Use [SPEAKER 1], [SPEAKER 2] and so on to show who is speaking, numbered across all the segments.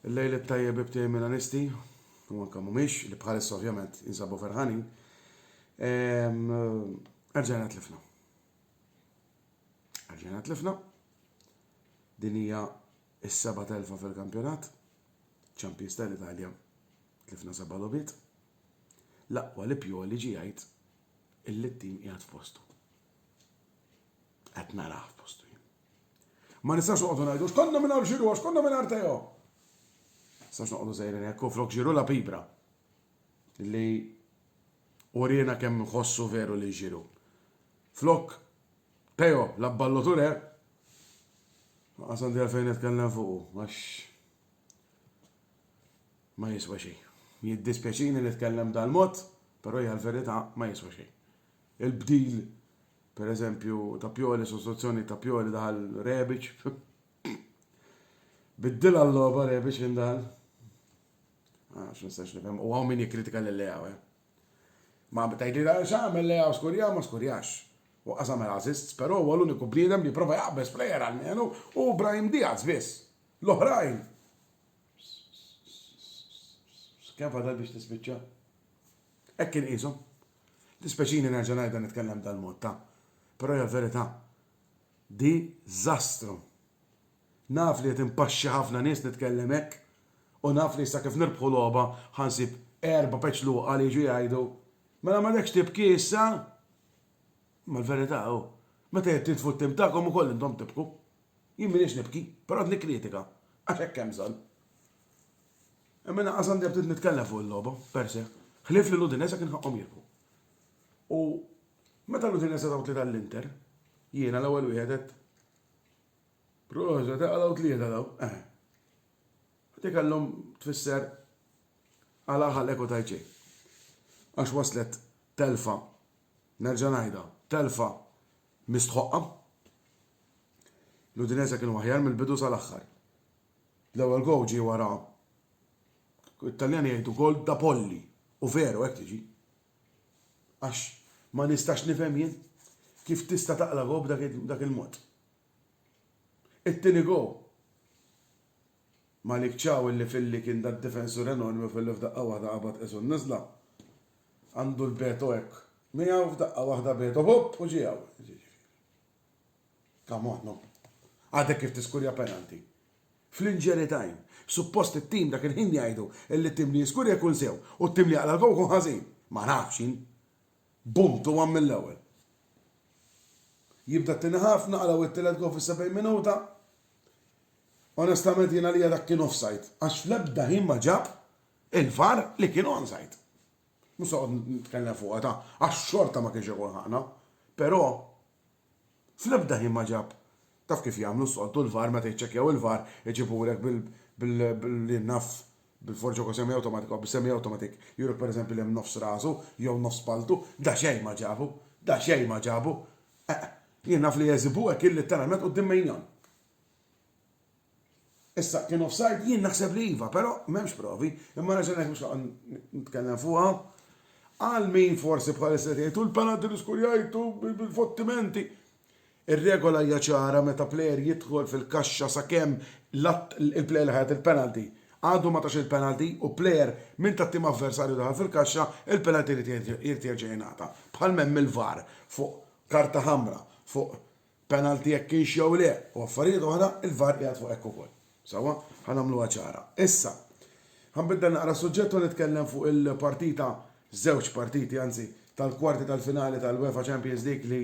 [SPEAKER 1] Il-lejl it-tajjeb ibtej Milanisti, u anka mhumiex, li bħalissa ovvjament jinsabu ferħanin. Erġajna tlifna. Erġajna tlifna. Din hija s-seba telfa fil-kampjonat. Champions tal-Italja tlifna seba' logħbiet. L-aqwa li pjoli ġi jgħid Il-littim qiegħed fostu. Qed narah fostu jien. Ma nistgħux noqogħdu ngħidu x'konna mingħajr ġiru, għax konna mingħajr Teo. Sax noqogħdu sejrin hekk u flok ġiru la pibra. Li urina kemm nħossu veru li ġiru. Flok Teo, la balloture, għasandri għalfejn nitkellem fuq, għax Ma jiswa xejn. Jiddispjaċini li tkellem dal-mod, però hija l-verità ma jiswa xejn. Il-bdil, per eżempju, ta' Pioli, sostituzzjoni ta' Pioli daħal Rebic. Biddil għall-logħba Rebic kien daħal. Ah, Għax nistax nifhem, u għaw min jikkritika lil lejaw eh. Ma tajdi għal xamel lejaw skurja, ma skurjax. U qasam għal assists, però huwa l-uniku bniedem li prova jaqbes plejer għal menu u Brahim Diaz biss. L-oħrajn! Kemm fadal biex tispiċċa? Hekk inqishom. Dispeċini nerġa' ngħidha nitkellem dal-mod ta', però hija l-verità. Diżastru. Naf li qed impaxxi ħafna nies nitkellem hekk u naf li issa kif nirbħu logħba ħa nsib erba' peċluqa li jiġu jgħidu mela m'għadekx tibki issa? Imma l-verità hu, meta jittintfu t-tim tagħkom ukoll intom tibku. Jien m'iniex nibki, però qed nikkritika, għax hekk hemm bżonn. Imma lanqas għandi aptit nitkellem fuq il-logħba, per se, ħlief li l-Udinese kien ħaqqhom jirbħu. U meta l-Udinese taw tlieta l-Inter, jiena l-ewwel wieħed għedt Proset, għalaw tlieta daw, eh. Għati kellhom tfisser għala ħalek u tajċej. Għax waslet telfa, nerġa' ngħidha, telfa mistħoqqa, L-Udinese kienu aħjar mill-bidu sal-aħħar. L-ewwel gowl ġie wara it-Taljani jgħidu gowl da polli u veru hekk tiġi. Għax ma nistax nifhem jien kif tista' taqla' gowl b'dak il-mod. It-tieni gowl Malik Ciao illi filli kien da difensur enormi filli f'daqqa waħda qabad qisu n-niżla għandu l-beto hekk miegħu f'daqqa waħda beto ħopp u ġie hawn. Come on, no. Għadek kif tiskurja penalty. Fl-injury time. Suppost it-tim dak il-ħin jgħidu illi t-tim li jiskurja jkun sew u t-tim li jaqla' l-gowl jkun ħażin. Ma nafx jien. Bum tu one mill-ewwel. Jibda t-tieni ħaf, naqraw it-tielet gowl fis-70 minuta. Onestament jien għalija dak kien offside għax fl-ebda ħin ma ġab il-VAR li kien onside. Mhux se noqgħod nitkellem fuqha ta' għax xorta ma kienx ikun ħaqna. Però fl-ebda ħin ma ġab taf kif jagħmlu s-soltu l-VAR meta jiċċekkjaw il-VAR iġibulek bil li naf bil-forġa kważi semi awtomatik bi semi awtomatik juruk pereżempju li hemm nofs rasu jew nofs paltu, daqsxejn ma ġabu, daqsxejn ma ġabu. Jien naf li jeżibu hekk il-litteralment quddiem mejdan. Issa, kien offside? Jien naħseb li iva, però m'hemmx provi, imma raġel hekk mhux nitkellem fuqha. Għal min forsi bħalissa tgħidu l-penalty li skurjajtu bil-fottimenti. Ir-regola hija ċara meta plejer jidħol fil-kaxxa sakemm il-plejer li ħajat il-penalty għadu ma tax il-penalty u plejer minn tat-tim avversarju daħal fil-kaxxa, il-penalty jrid jerġa' jingħata. Bħal m'hemm il-VAR fuq karta ħamra, fuq penalty jekk kienx jew le u affarijiet oħra, il-VAR qiegħed fuq hekk ukoll. Sewwa, ħa nagħmluha ċara. Issa, ħa nbiddel naqra s-suġġett u nitkellem fuq il-partita, żewġ partiti anzi, tal-kwarti tal-finali tal-UEFA Champions League li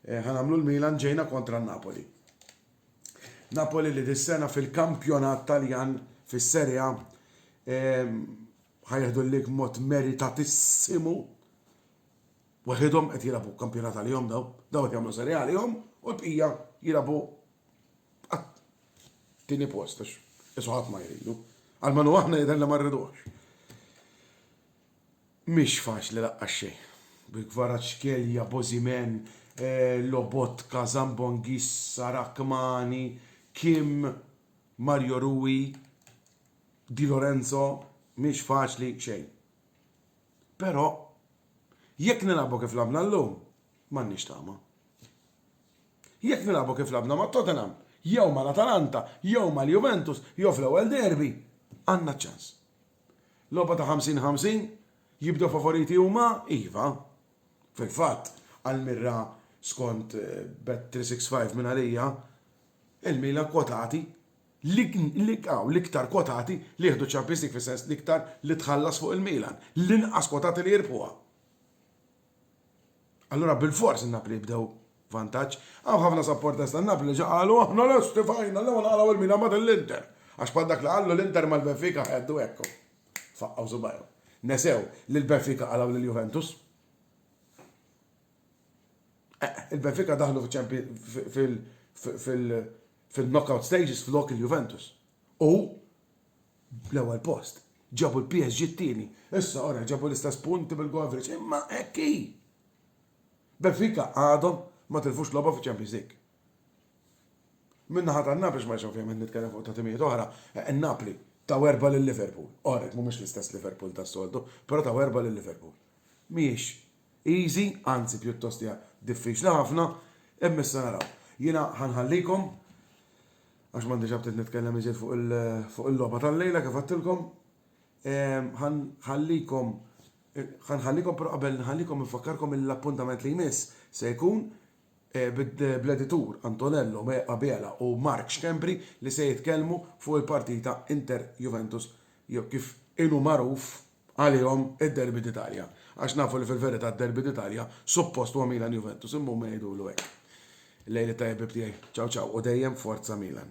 [SPEAKER 1] ħa nagħmlu l-Milan ġejna kontra n-Napoli. Napoli li dis-sena fil-kampjonat Taljan fis-Serie A ħa jieħdu l-lig mod meritatissimo Waħidhom qed jilagħbu kampjonat għalihom daw, daw qed jagħmlu serje għalihom u l-bqija jilagħbu għat-tieni post għax isu ħadd ma jridu. Almenu aħna jidher li ma rridux. Mhix faċli laqqas xejn. Bil-kvarat xkelja, bożimen, eh, lobot, kazambongis, sarakmani, kim, Mario Rui, Di Lorenzo, mhix faċli xejn. Però Jekk nilagħbu kif lagħbna llum, m'għandniex tama. Jekk nilagħbu kif lagħbna ma' Tottenham, jew mal-Atalanta, jew mal-Juventus, jew fl-ewwel derby, għandna ċans. Logħba ta' ħamsin ħamsin? Jibdew favoriti huma? Iva. Fil-fatt, għall-mirra skont Bet365 minn għalija, il-Milan kwotati L-iqaw, l-iktar kwotati li jieħdu ċ-Champions League fis-sens l-iktar li tħallas fuq il-Milan, l-inqas kwotati li jirbħuha. Allura bilfors in-Napli jibdew vantaġġ. Hawn ħafna supporters tan-Napli li ġa qalu aħna lesti f'għajnna l-ewwel naqlgħu il-Milan mbagħad l-Inter, għax bħal dak li qallu l-Inter mal-Benfica ħeddu hekk u faqqgħu subajhom. Nesew li l-Benfica qalgħu lill-Juventus. Eqe, il-Benfica daħlu fil-Champions fil-knockout stages flok il-Juventus u bl-ewwel post ġabu l-PSG t-tieni. Issa ora ġabu l-istess punti bil-goaverage imma hekk hi! Benfica għadhom ma tilfux logħba fiċ-Champions League. Min-naħa tan-Napli x'ma nixgħu fihom qed nitkellem fuq ta' timijiet oħra, in-Napli taw erbgħa lil Liverpool. Orrek, mhumiex l-istess Liverpool tas-soltu, però taw erbgħa lil Liverpool. Mhijiex Easy, anzi pjuttost hija diffiċli ħafna, imma issa naraw. Jiena ħa nħallikom għax m'għandix aptit nitkellem iżjed fuq il- fuq il-logħba tal-lejla kif għedtilkom. Ehm, ħa nħallikom ħa nħallikom però qabel nħallikom infakkarkom li l-appuntament li jmiss se jkun eh, bid- bl-editur Antonello Me- Abela u Mark Schembri li se jitkellmu fuq il-partita Inter Juventus jew kif inu magħruf għalihom id-derby d'Italja għax nafu li fil-verità d-derby d'Italja suppost huwa Milan Juventus imma huma jgħidulu hekk. Lejl it-tajjeb ħbieb tiegħi. Ciao ciao u dejjem Forza Milan.